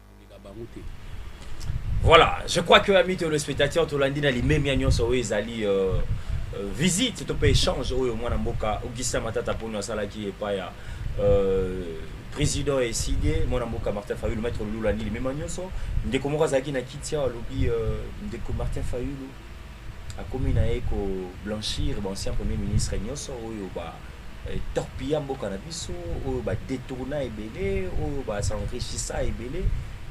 Voilà, je crois que amis téléspectateurs, tolandi na limemia nyonso oyo ezali euh, euh, visite to pe échange oyo mwana mboka Augustin Matata Ponyo asalaki epai ya euh, président ya eside mwana mboka Martin Fayulu maître Lula Nili mema nyonso ndeko moko azalaki na kiti awa alobi euh, ndeko Martin Fayulu akomi na ye ko blanchir ba ancien premier ministre nyoso oyo ba eh, torpilla mboka na biso oyo ba detourna ebele oyo ba s'enrichissa ebele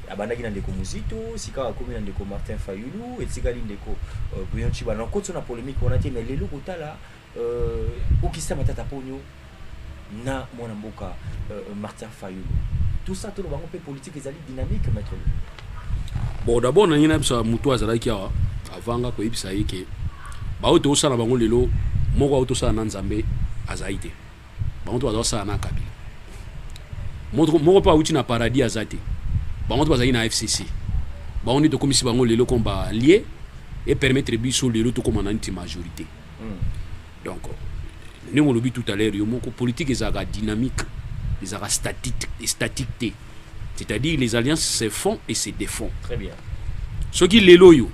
abandaki na ndeko muzito sikawa akomi na ndeko martin fayulu etikali ndeko uh, eh, buyonci bana okoti na polemique wana te mais lelo kotala Euh, okisa matata ponyo na mwana mboka euh, Martin Fayulu. Tout ça tolo bango pe politique ezali dynamique maître. Bon d'abord na ngina bisa mutu azalaki awa avanga ko yebisa ye ke ba oyo tosala bango lelo moko auto sala na Nzambe azali te. Bango to bazali sala na Kabila. Moko moko pa uti na paradis azate. Bango to bazali na FCC. Bango ni tokomisi bango lelo komba lié et permettre biso lelo tokoma na nti majorité. mm. donc ndenge olobi tout à l'heure yo moko politique ezalaka dynamique ezalaka statique, statique te c'est-à-dire les alliances se font et se défont très bien soki lelo oyo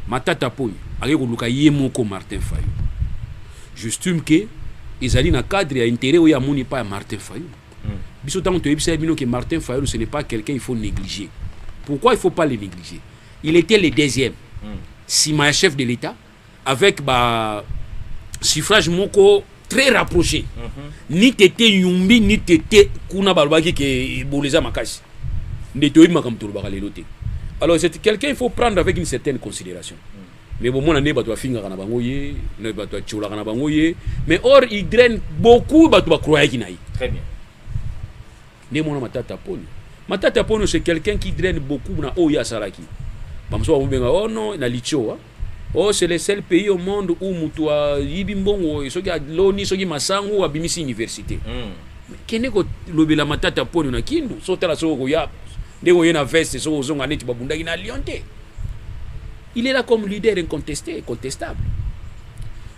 matata poni ake koluka ye moko martin fayo j'estime ke ezali na cadre ya intérêt oyo amoni epai ya martin fayo mm. biso ntango toyebisa bino ke martin fayo ce n'est pas quelqu'un il faut négliger pourquoi il faut pas le négliger il était le deuxième mm. sima ya chef de l'état avec ba suffrage moko très rapproché mm -hmm. ni tete yumbi ni tete kuna balobaki ke ebolo eza makasi nde toyebi makambo tolobaka lelo te alors c'est quelqu'un il faut prendre avec une certaine considération mm. mais bomona nde bato bafingaka na bango ye bato batiolaka na bango ye mais or il draine beaucoup bato bakroyaki na ye nde mwana matata poni matata poni c'est quelqu'un qui draine beaucoup na oyo ye asalaki bamosusu bakobenga oh non na litio Oh, c'est le seul pays au monde où mutu ayibi mbongo oyo soki aloni soki masangu abimisi université mm. kende kolobela matata mpono na kindu so tala soki okoya ndenge oye na veste soki ozonga neti babundaki na lyon te il est là comme leader incontesté incontestable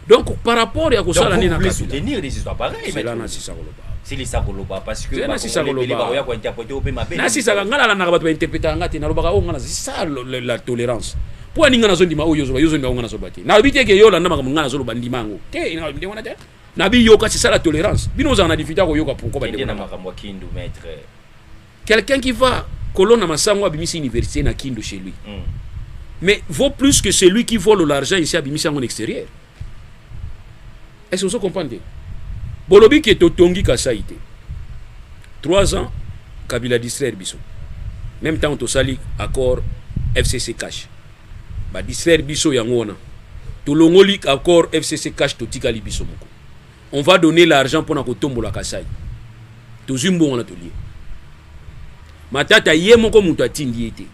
donc par rapport ya kosala nini na soutenir des histoires pareilles cela na sisa koloba silisa koloba parce que na sisa koloba ba ya ko interpréter ope mabe na sisa ngala na bato ba interpréter ngati na lobaka o oh, ngana sisa la tolérance Mpo ani ngai nazondima oyo ozoloba, yo ozondima ngai nazoloba te. Nalobi te ke yo olanda makambo ngai nazoloba ndima yango. Te, nalobi ndenge wana te. Nabi yoka c'est ça la tolérance. Bino ozala na difficulté koyoka pourquoi ba ndeko na makambo kindu maître. Quelqu'un qui va kolona masango abimisi université na Kindu chez lui. Mm. Mais vaut plus que celui qui vole l'argent ici abimisi yango en extérieur. Est-ce que vous comprenez Bolobi que totongi Kasaï te. 3 ans, Kabila distraire biso. Même temps, on sali accord FCC cash. Ba distraire biso yango wana. Tolongoli accord FCC cash totikali biso moko. on va donner l'argent pona kotombola kasai tozwi mbongo na tolie matata ye moko moto atindi ye te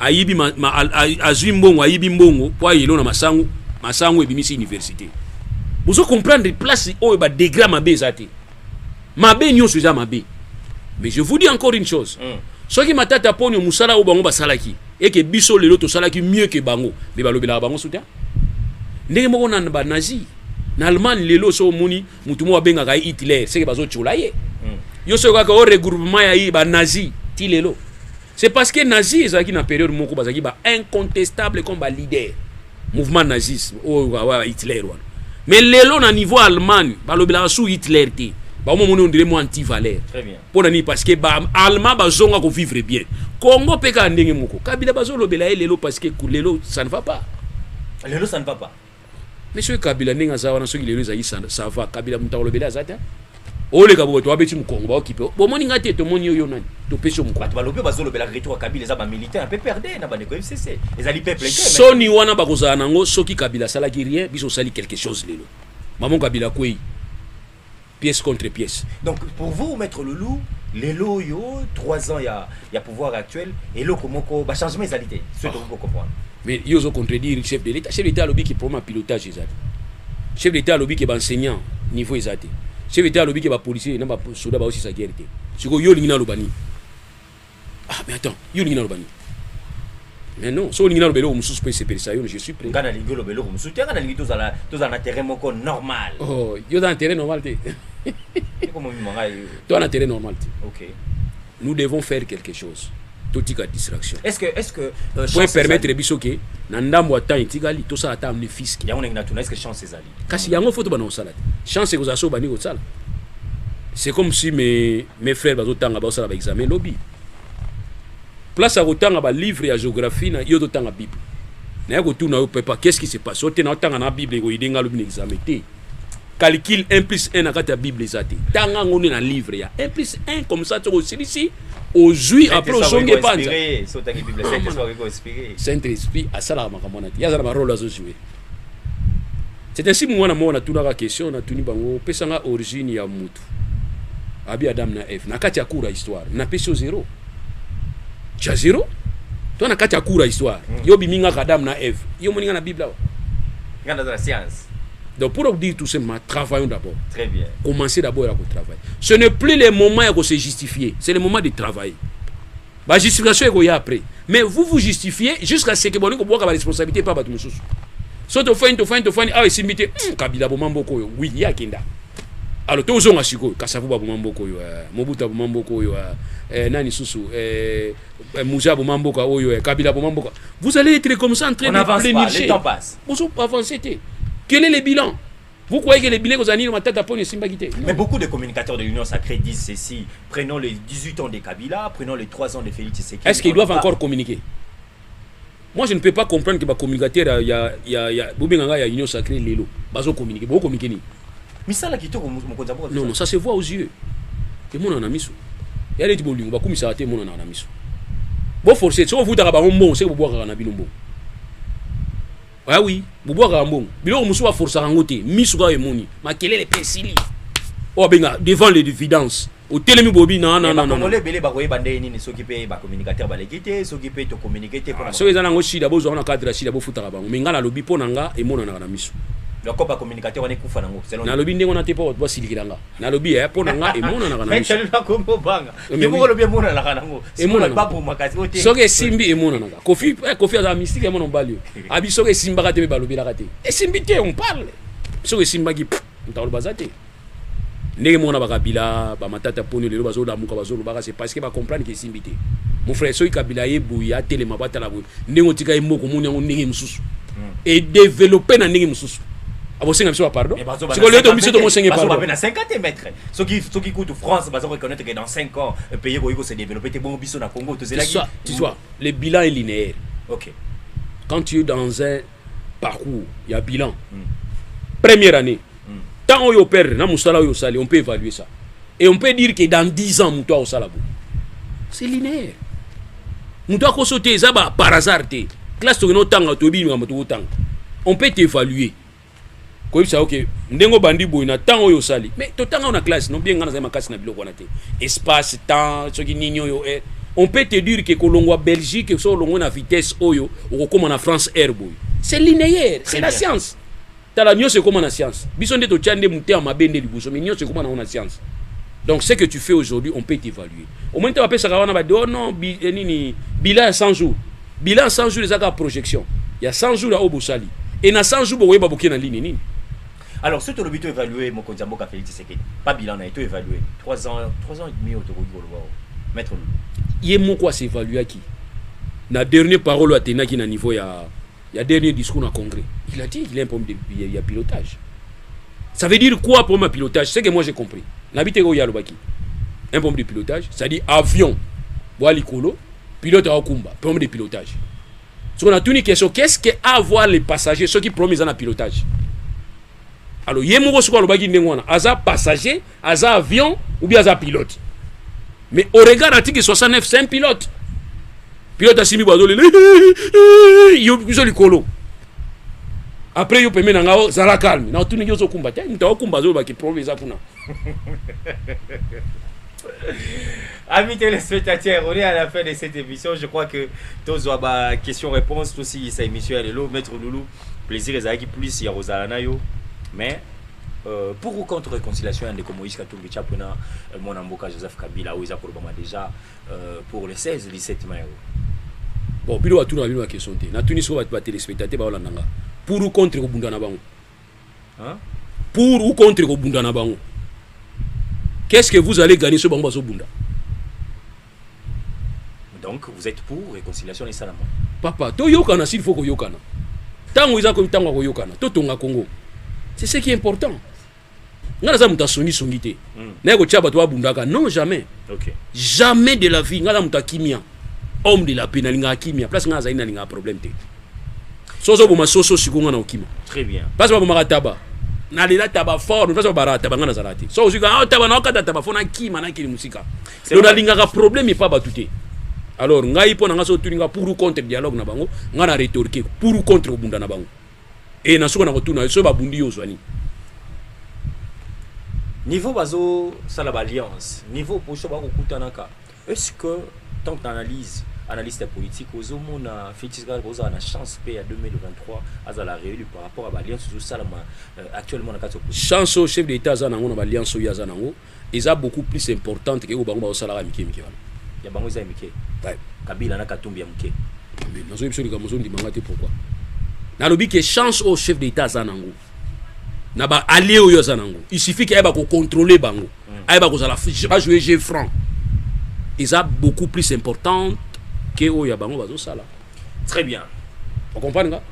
ayibi ma, ma, azwi mbongo ayibi mbongo mpo ayelo na masango masango ebimisi université bozo comprendre place oyo badegra mabe eza te mabe nyonso eza mabe mais je vous dis encore une chose mm. soki matata mponio mosala oyo bango basalaki eke biso lelo tosalaki mieux ke bango me balobelaka bango suta ndenge moko na ba nazi na allemagne lelo so omoni motu moko abengaka ye hitler seke bazotyola ye hmm. yo soki kaka o regroupement ya ye banazi ti lelo c'est parce que nazi ezalaki na periode moko bazalaki ba incontestable comme ba leader mouvement nazis oyo oh, hitler wana mais lelo na niveau allemagne balobelaka su hitler te baomomoni ondire mwa anti valeur mpo na nini parceke baalma bazonga kovivre bien congo mpe kaka ndenge moko kabila bazolobela ye lelo parceke lelo ça ne va pas lelo ça ne va pas mais soki kabila ndenge aza wana soki lelo ezali ça va kabila moto akolobela aza te oleka boto abeti mokongo baokipe bomoni ngai te tomoni oyo nani topesi yo mokongo balobi bazolobela retour ya kabila eza bamilitaire ya pprd na bandeko fcc ezali peuple soni wana bakozala nango soki kabila asalaki rien biso osali quelque chose lelo mamo kabila kwei pièce contre pièce donc pour vous maître loulou lelo oyo 3 ans ya, ya pouvoir actuel eloko moko bachangement ezali te soki tokoki kocomprendre mais yo ozo contredire chef de l'état chef de l'état alobi ke problème ya pilotage ezali chef de l'état alobi ke baenseignant niveau eza te chef de l'état alobi ke bapolicier na basoda baosisa guerre te sikoyo yo olingi naloba nini ah mais attends yo olingi naloba nini mais non soki olingi naloba eloko mosusu mpo esepelisa yo je suis prêt ngai nalingi oloba eloko mosusu te ngai nalingi tozala tozala na terrain moko normal oh, yo oza na terrain normal te ekomomima ngai toza na terrain normal te ok nous devons faire quelque chose totika distraction est-ce que est-ce que euh, pour permettre biso ke na ndambo ya temps etikali tosala ata amne fiske yango ndenge natuna est-ce que chance ezali kasi yango foto bana kosala te chance ekozala so obandi kosala c'est comme si mes, mes frères bazotanga baosala baexamen lobi place ya kotanga balivre ya géographie na yo totanga bible naye kotuna yo pepa qu'est-ce qui se passe ote na otanga na bible ekoyide ngai alobi na examen te calcule 1 plus 1 na kati ya bible eza te tanga yango nde na livre ya 1 plus 1 comme ça soki osilisi ozwi apres ozongi epanza saint esprit asalaka makambo wana te ye aza na barole azozwi C'est ainsi moi na mona tunaka question na tuni bango pesa nga origine ya mutu abi Adam na Eve na kati ya cours ya histoire na pesi zero cha zero to na kati ya cours ya histoire mm. yo bimi nga Adam na Eve yo moninga na Bible awa nga na science donc pour dire tout simplement travaillons d'abord très bien commencer d'abord à travailler ce n'est plus le moment ya ko se justifier c'est le moment de travailler Ba justification ekoya après. Mais vous vous justifiez jusqu'à ce que bolingo bwaka ba responsabilité pa bato mosusu. So to fani to fani to fani awa esimbi te hmm, kabila boma mboko oyo oui ye akenda alors tozonga sikoyo kasavu baboma mboko oyo eh, mobutu aboma mboko oyo eh, eh, nani susu eh, eh muza aboma mboka oyo eh, kabila aboma mboka vous allez être comme ça en train de plénicher bozo avancer te quel est le bilan Vous croyez que les billets aux années matata pone esimbaki te Mais beaucoup de communicateurs de l'Union sacrée disent ceci. Prenons les 18 ans de Kabila, prenons les 3 ans de Félix Tshisekedi. Est-ce qu'ils doivent pas... encore communiquer Moi je ne peux pas comprendre que ba communicateurs ya ya ya bobenganga ya Union sacrée lelo bazo communiquer. Bo communiquer ni. Misala kitoko mokonzi ya Non non, ça se voit aux yeux. Et mon na miso. Ya leti bolingo ba kumisa te mon na miso. Bo forcer, so vous ta ba mbongo, c'est bo bwaka na bino mbongo. Ah oui, bobwakaka mbongo. Biloko mosusu baforsaka yango te. Misu kaka emoni. Makelele mpe esili. Oyo abenga devant les dividences. otelemi bobi na na na na bakongole ebele bakoyeba ndenge nini soki mpe bacommunicateur baleki te soki mpe tocommunike te mpona ah, soki eza nango shida bozwaka na cadre ya shida bofutaka bango me ngai nalobi mpo na nga emonanaka na miso loko bacommunicateur wana ekufa nango nalobi ndenge wana te mpo bato basilikela nga nalobi e eh, mpo na nga emonanaka na miso soki esimbi emonanaka kofi eh, aza mystique ya mwana mobali oyo abi soki esimbaka te mpe balobelaka te esimbi te on parle soki esimbaki ntakoloba aza te ndenge mona bakabila bamatata poni lelo bazolamuka bazolobaka se parce que bacomprendre ke esimbi te mon frère soki kabila ye boye atelema batala boye ndenge otika ye moko omoni yango ndenge mosusu hmm. edeveloppe na ndenge mosusu abosenga biso bapardon sikoyo leo to biso tomosenge pardon soki soki kutu France baza reconnaître que dans 5 ans euh, pays ekoki ko se développer te bongo biso na Congo to zelaki tu, tu vois le bilan est linéaire OK quand tu es dans un parcours il y a bilan mm. première année mm. tant oyo perdre na musala oyo sali on peut évaluer ça et on peut dire que dans 10 ans mutu akosala boye c'est linéaire mutu akoso te eza par hasard te classe tokende otanga toyebi likambo tokotanga on peut t'évaluer koyebisa yo ke ndenge obandi boye na ntango oyo osali mais totanga na classe no bien ngai nazali makasi na biloko wana te espace temps soki nini oyo eh. on peut te dire ke kolongwa belgique so olongwe na vitesse oyo okokóma na france air boye c'est linéaire c'est la science tala nyonso ekóma na science biso nde totya nde motema mabe nde liboso mais nyonso ekóma nango na science donc ce que tu fais aujourd'hui on peut t'évaluer omoni ntango apesaka wana bade oh non bi, eh, nini bila ya 100 jours Bilan 100 jours eza kaka projection ya 100 jours ya oyo bosali e na 100 jours bokoyeba boke na lini nini alors soki tolobi to évaluer mokonzi ya mboka Félix Tshisekedi pas bilan na ye to évaluer 3 ans 3 ans et demi oyo tokoki koloba oyo maître Lulu ye moko as'évaluaki na dernier parole oyo atendaki na niveau ya ya dernier discours na congrès il a dit il a un problème de, ya, ya pilotage ça veut dire quoi problème ya pilotage c'est que moi j'ai compris nabi te oyo alobaki un problème de pilotage c'est-à-dire avion bwa likolo pilote aokumba problème de pilotage soki natuni question qu'est-ce que avoir les passagers soki problème eza na pilotage alors ye moko soki alobaki ndenge wana aza passager aza avion ou bien aza pilote mais au regard article 69 c'est un pilote pilote asimbi bazolela yo biso likolo après yo pembe na nga zala calme na otuni yo ozokumba te moto aokumba azoloba ki problème eza kuna Amis téléspectateurs, on est à la fin de cette émission. Je crois que tous ont ba question réponse tous si cette émission elle est là maître Loulou. Plaisir les qui plus ya Rosalana yo. Mais euh, pour ou contre réconciliation ndeko Moïse Katumbi Chapona euh, mon amboka Joseph Kabila ou Isaac Obama déjà euh, pour le 16 17 mai. Bon, bilo atuna bino question te. Na tuni so ba téléspectateurs ba olanda nga. Pour ou contre ko bunda na bango. pour ou contre kobunda na bango qu'est-ce que vous allez gagner soki bango bazobunda donc vous êtes pour réconciliation esalama papa toyokana s'il faut koyokana ntango eza komi ntango ya koyokana totonga congo c'est ce qui est important nga naza moto asongisongi te hmm. naye kotya bato babundaka non jamais okay. jamais de la vie nga na moto akimia homme de la paix nalingaka kimia place nga nazali nalingaka problème te so ozoboma soso siko nga na okima très bien mpasi babomaka taba nalela taba fort mpasi babaraka taba nga nazalaka te so ozwi ka ah, taba naokata taba fo nakima nakende mosika lo nalingaka problème epa bato te alors ngai mpo na ngai so otuni nga pour ou contre dialogue na bango ngai na retorke pour ou contre kobunda na bango e na soko na kotuna yo soki babundi yo ozwa nini niveau bazosala baalliance niveau poso bakokutanaka Est ce que tant que analyse analyste ya politique ozomona Felix Tshisekedi kozala na chance mpe ya 2023 azala réélu par rapport à baalliance ezosalama euh, actuellement na kati ya chance oyo chef d'état aza nango na baalliance oyo aza nango eza beaucoup plus importante ke oyo bango bazosalaka mike mike wana ya bango eza ya mike kabila na katumbi ya moke nazoyebi biso likambo ozondima nga te pourquoi nalobi ke chance oyo chef d'état aza nango na ba alliés oyo aza nango il suffit qu'ayeba ko contrôler bango ayeba kozala ba jouer jeu franc eza beaucoup plus importante que oyo ya bango bazosala très bien okomprendre nga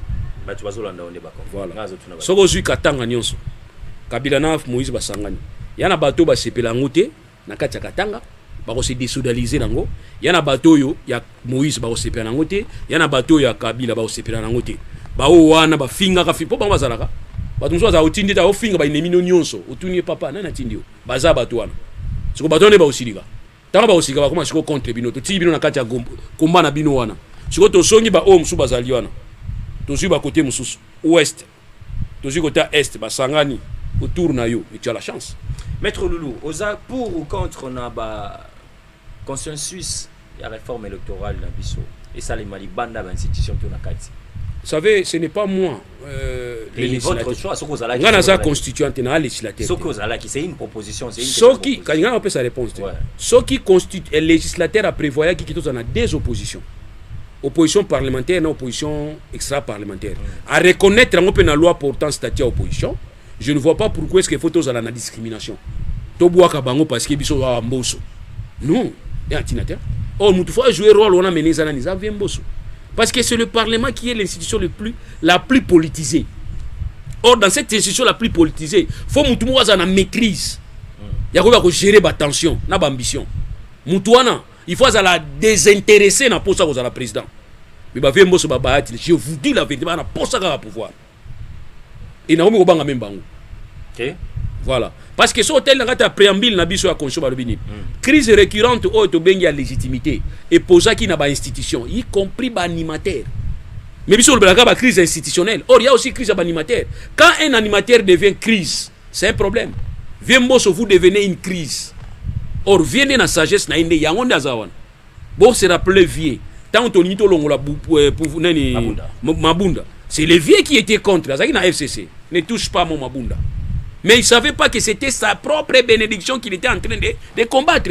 bato bazolanda yo nde bako voilà soki ozwi katanga nyonso kabila na moïse basangani ya na bato basepela yango te na kati ya katanga bakose desodalize nango ya na bato oyo ya moïse bakosepela nango te ya na bato oyo ya kabila bakosepela nango te baoyo wana bafingaka fi mpo bango bazalaka bato mosusu bazala otindi ete aofinga bainemi no nyonso otuni ye papa nani atindi yo baza bato wana siko bato wana nde baosilika ntango baosilika bakoma siko contre bino totii bino na kati ya komba na bino wana siko tosongi baoyo mosusu bazali wana tozwi bakote mosusu ouest tozwi kote ya est basangani autour na yo et tu as la chance maître loulou oza pour ou contre na ba consensus ya réforme électorale na biso esalema libanda ba institution to na kati Vous savez, ce n'est pas moi. Euh, le votre choix, ce que vous allez Ngana za constituant na législateur. Ce que vous allez c'est une proposition, c'est une Ce qui quand on peut sa réponse. Ce qui constitue législateur a prévoyé qu'il y a des oppositions. opposition parlementaire na opposition extra parlementaire à reconnaître yango mpe na loi portant statut ya opposition je ne vois pas pourquoi est ce que faut tozala na discrimination tobwaka bango parce que biso awa mboso non ya ntina te or oh, motu fo ajouer role wana mene eza nani eza vie mboso parce que c'est le parlement qui est l'institution le plus la plus politisée or dans cette institution la plus politisée fo motu moko azala na maîtrise ya koyeba kogérer batension na baambition motu wana il faut azala desinteresse na posa kozala président mais bavie mboso babayati je vous dis la vérité baa na posa kaka pouvoir e nakomi kobanga meme bango okay. voilà parce que soki otali na kati ya préambile na biso ya constitution balobi nini mm. crise récurrente oyo tobengi ya légitimité epozaki na bainstitution y compris baanimateur mais biso olobelaka bacrise institutionnelle or ya aussi crise ya baanimateur quand un animateur devient crise C'est un problème. Vieux Mbosso, vous devenez une crise. Or, vieux nde na sagesse na ye nde yango nde aza wana. Bo se rappeler vieux. Tango tolingi tolongola euh, pouvu nani Mabunda. Mabunda. C'est le vieux qui était contre. Azaki na FCC. Ne touche pas mon Mabunda. Mais il savait pas que c'était sa propre bénédiction qu'il était en train de, de combattre.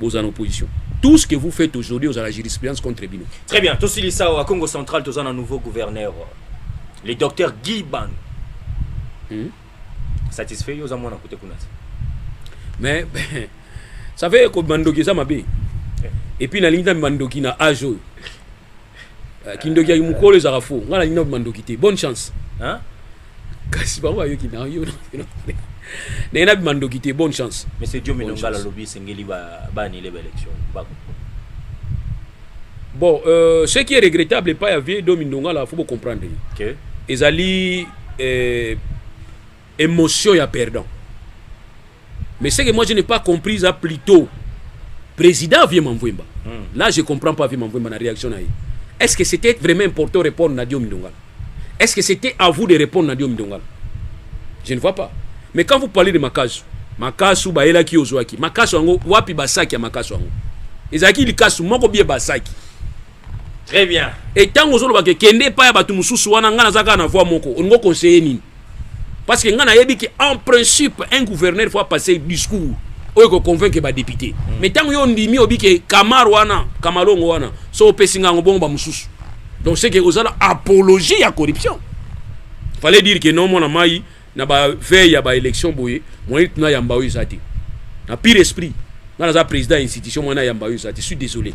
bozala na opposition tout ce que vous faites aujourd'hui ozala jurisprudence contre bino très bien tosilisa awa congo central toza na nouveau gouverneur le docteur guy ban hmm? satisfait yo oza mwana kote kuna te mais ça fait kobima ndoki eza mabe eh. epuis nalingi na bima ndoki na age oyo kindoki ya mukolo ezaka fo nga nalingi nabima ndoki te bonne chance hein? kasi bango bayoki na yo ndenge nabima ndoki te bonne chance monsieur diomi nongala alobi esengeli baanile baélection bako bon euh, ce qui est regrettable epai ya vie domi ndongala fo bocomprendre okay. ezali euh, Emotion ya perdant. Mais ce que moi je n'ai pas compris, ça plutôt président Vieux Mamvouemba. Hmm. Là, je comprends pas Vieux Mamvouemba, la réaction. Est-ce que c'était vraiment important de répondre à Diom Ndongala Est-ce que c'était à vous de répondre à Diom Ndongala Je ne vois pas. Mais quand vous parlez de Makasu, Makasu, Baela qui Ozoaki, Makasu, Ango, Wapi Basaki à Makasu, Ango. Ezaki Likasu, Moko Bie Basaki. Très bien. Et tant que vous avez kende pas ya batu mususu wana ngana zaka na voix moko, on conseiller nini parce que ngai nayebi ke en principe un gouverneur faut apasser discours oyo ekoconvaincre badepute mm. mais ntango yo ondimi obi ke kamar wana kamalongo wana so opesi ngai yango bongo bamosusu donc c'est que ozala apologie ya corruption fallait dire ke non mwana mai na baveille ya baélection boye moyen tuna yamba oyo eza te na pire esprit nga naza président ya institution mwana yamba oyo eza te suis désolé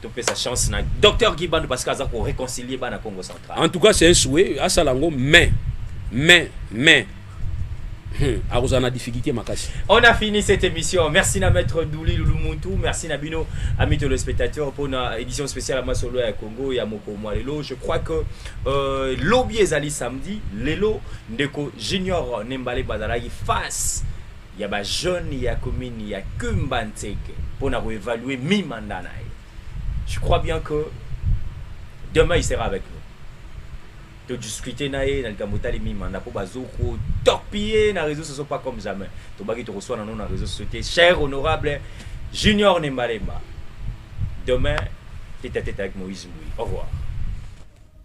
topesa chance na docteur Guy Bandu parce que aza ko réconcilier bana Congo central. En tout cas c'est un souhait asala ngo mais mais mais Hmm, akozala na difficulté makasi on a fini cette émission merci na maître douli lulumutu merci na bino amis téléspectateurs mpo na édition spéciale ya masolo ya congo ya mokolo mwa lelo je crois que euh, lobi ezali samedi lelo ndeko junior nembale bazalaki face ya ba jeunes ya commune ya Kumba Nseke pona ko evaluer mi mandat na ye je crois bien que demain il sera avec nous to discuter na ye na likambo etali mi mandat po bazo ko torpiller na réseaux sociaux pas comme jamais tobaki tokoswana no na réseaux sociaux te cher honorable Junior Nembalemba demain tete à tete avec Moïse Mbuyi au revoir